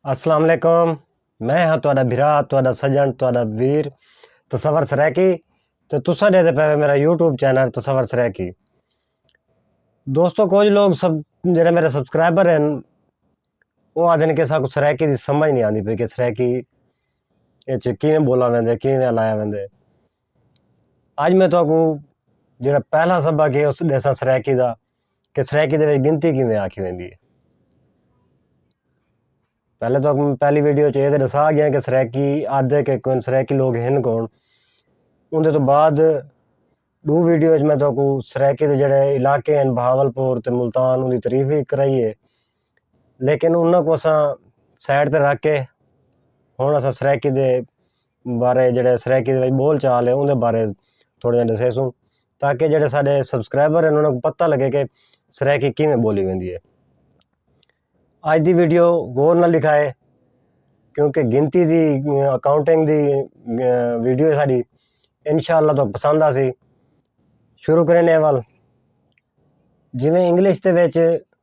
السلام علیکم میں ہاں تہاڈا بھرا تہاڈا سجن تہاڈا ویر تصور سرائیکی تے تساں دے پے میرا یوٹیوب چینل تصور سرائیکی دوستو کچھ لوگ سب جڑے میرے سبسکرائبر ہیں وہ آدھن کہ ساکو سرائیکی دی سمجھ نہیں آندی پئی کہ سرائیکی اچ کیویں بولا ویندے کیویں لایا ویندے اج میں تہاکوں جیڑھا پہلا سبق ہے اس ڈیسا سرائیکی دا کہ سرائیکی دے وچ گنتی کیویں آکھی ویندی ہے پہلے تہاکوں میں پہلی ویڈیو چ اے تے ڈسا گیا کہ سرائیکی آدھے کہ کون سرائیکی لوگ ہن کون ان دے تو بعد ڈو ویڈیو وچ میں تہاکوں سرائیکی دے جیڑھے علاقے ہیں بہاول پور تے ملتان ان دی تعریف وی کرائی ہے لیکن انہاں کوں اساں سائیڈ تے رکھ کے ہن اساں سرائیکی دے بارے جیہڑے سرائیکی دے بول چال ہے اوندے بارے تھوڑے جیہے ݙسیسوں تاکہ جیہڑے ساݙے سبسکرائبر ہن انہاں کوں پتہ لڳے کہ سرائیکی کیویں ٻولی ویندی ہے اڄ دی ویڈیو غور نال ݙیکھا ہے کیونکہ گنتی دی اکاؤنٹنگ دی ویڈیو ہے ساݙی انشاءاللہ تو پسند آسی شروع کریں اے وال جیویں انگلش دے وچ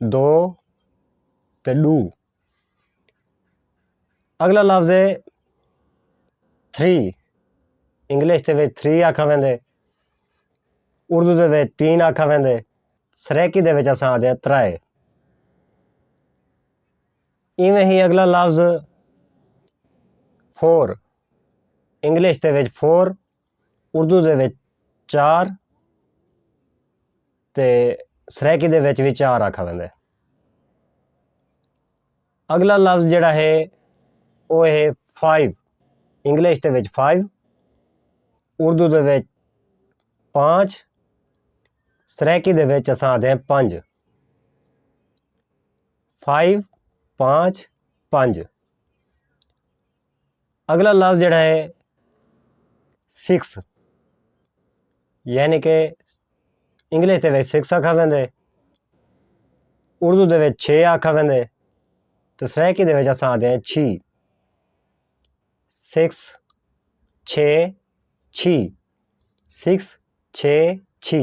دو تے ݙو۔ اڳلا لفظ ہے تھری انگلش دے وچ تھری آکھا ویندے اردو دے وچ تین آکھا ویندے سرائیکی دے وچ اساں آکھدے آں ترائے ایویں ہی اڳلا لفظ فور انگلش دے وچ فور اردو دے وچ چار تے سرائیکی دے وچ وی چار آکھا ویندے۔ اگلا لفظ جیڑا ہے او ہے فائیو انگلش دے وچ فائیو اردو دے وچ پانچ سرائیکی دے وچ اساں آندے ہیں پنج فائیو پانچ پنج اگلا لفظ جڑا ہے سکس یعنی کہ انگلش دے وچ سکس آکھا ویندے اردو دے وچ چھ آکھا ویندے تے سرائیکی دے وچ اساں آدھے ہیں چھی سکس چھ چھی سکس چھ چھی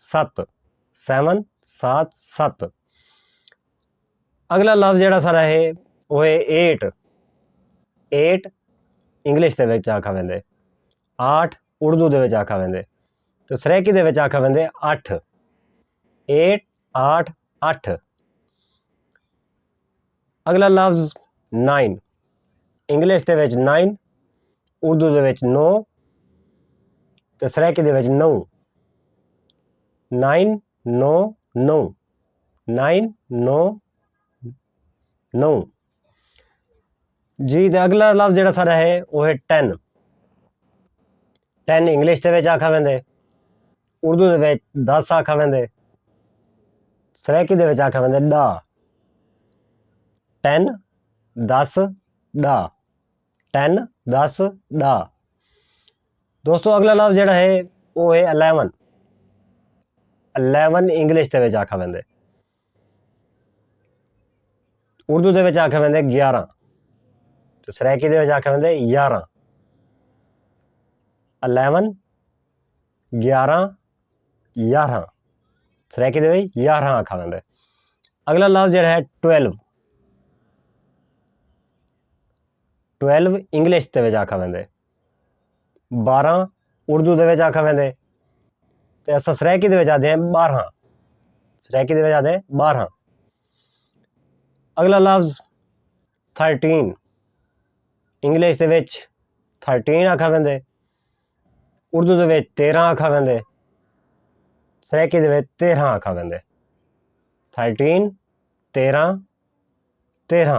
ست سیون سات ست اگلا لفظ جڑا سارا ہے وہ ہے ایٹ ایٹ انگلش دے وچ آکھا ویندے آٹھ اردو دے وچ آکھا ویندے تو سریکی دے وچ آکھا ویندے اٹھ ایٹ آٹھ اٹھ اگلا لفظ نائن انگلش دے وچ نائن اردو دے وچ نو تے سرائیکی دے وچ نو نائن نو نو نائن نو نو جی تے اگلا لفظ جڑا سارا ہے وہ ہے ٹین ٹین انگلش دے وچ آکھا ویندے اردو دے وچ دس آکھا ویندے سرائیکی دے وچ آکھا ویندے ڈا ٹین دس ڈا ٹین دس ڈا دوستو اگلا لفظ جڑا ہے وہ ہے الیون الیون انگلش دے وچ آکھا ویندے اردو دے وچ آکھے ویندے گیارہ تے سرائیکی دے وچ آکھے ویندے یارہ الیون گیارہ یارہ سرائیکی دے وچ یارہ آکھا ویندے اگلا لفظ جڑا ہے ٹویلو ٹویلو انگلش دے وچ آکھا ویندے بارہاں اردو دے وچ آکھا ویندے تے اساں سرائیکی دے وچ آندے ہیں بارہاں سرائیکی دے وچ آندے ہیں بارہاں اگلا لفظ تھرٹین انگلش دے وچ تھرٹین آکھا ویندے اردو دے وچ تیرہ آکھا ویندے سرائیکی دے وچ تیرہ آکھا ویندے تھرٹین تیرہ تیرہ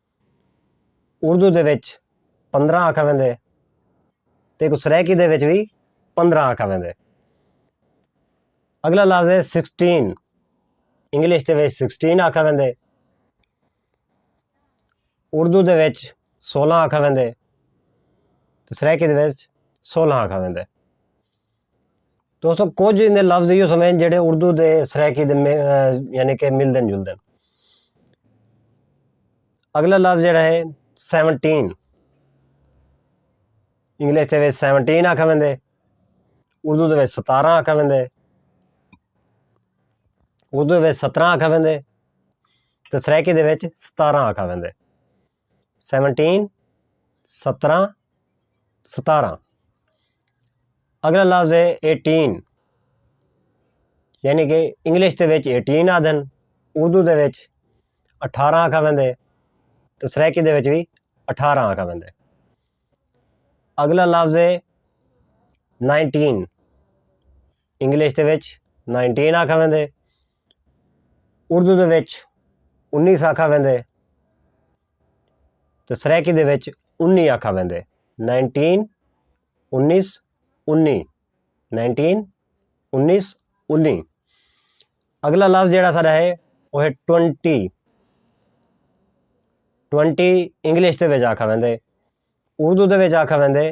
اردو دے وچ پندرہ آکھا ویندے تے کوں سرائیکی دے وچ وی پندرہ آکھا ویندے۔ اگلا لفظ ہے سکسٹین انگلش دے وچ سکسٹین آکھا ویندے اردو دے وچ سولہ آکھا ویندے تے سرائیکی دے وچ سولہ آکھا ویندے۔ دوستو کچھ ایندے لفظ ایہو سوں ہن جیہڑے اردو تے سرائیکی دے یعنی کہ ملدے جلدے ہن۔ اگلا لفظ جیہڑا ہے سیونٹین انگلش دے وچ سیونٹین آکھا ویندے اردو دے وچ ستاراں آکھا ویندے اردو دے وچ ستراں آکھا ویندے تے سرائیکی دے وچ ستاراں آکھا ویندے۔ سیونٹین ستراں ستاراں اگلا لفظ ہے ایٹین یعنی کہ انگلش دے وچ ایٹین آدھن اردو دے وچ اٹھارہ آکھا ویندے تو سرائیکی دے وچ بھی اٹھارہ آکھا ویندے اگلا لفظ ہے نائنٹین انگلش دے وچ نائنٹین آکھا ویندے اردو دے وچ انیس آکھا ویندے تے سرائیکی دے وچ انی آکھا ویندے نائنٹین انیس انی نائنٹین انیس انی اگلا لفظ جہاں سارا ہے وہ ہے ٹونٹی ٹونٹی انگلش دے وچ آکھا ویندے اردو دے وچ آکھا ویندے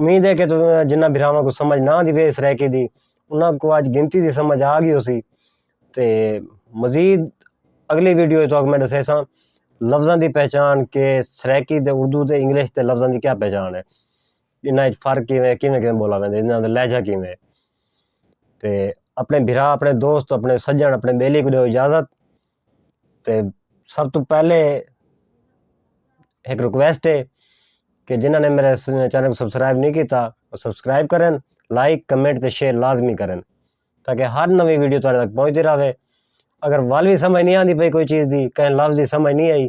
امید ہے کہ جنہاں بھراواں کوں سمجھ نہ آندی پئی سرائیکی دی انہاں کوں اج گنتی دی سمجھ آ گئی ہوسی تے مزید اگلی ویڈیو اچ تہاکوں میں ݙسیساں لفظاں دی پہچاݨ کہ سرائیکی تے اردو تے انگلش دے لفظاں دی کیا پہچاݨ ہے انہاں اچ فرق کیویں کیویں کیویں ٻولا ویندے انہاں دا لہجہ کیویں تے اپݨے بھرا اپݨے دوست اپݨے سڄݨ اپݨے ٻیلی کوں ݙیؤ اجازت تے سب توں پہلے ہک ریکویسٹ ہے کہ جنہاں نے میرے چینل کو سبسکرائب نہیں کیتا وہ سبسکرائب کرن لائک کمنٹ تے شیئر لازمی کرن تاکہ ہر نوی ویڈیو تک پہنچتی رہے اگر وال بھی سمجھ نہیں آتی پئی کوئی چیز دی کہیں لفظ دی سمجھ نہیں آئی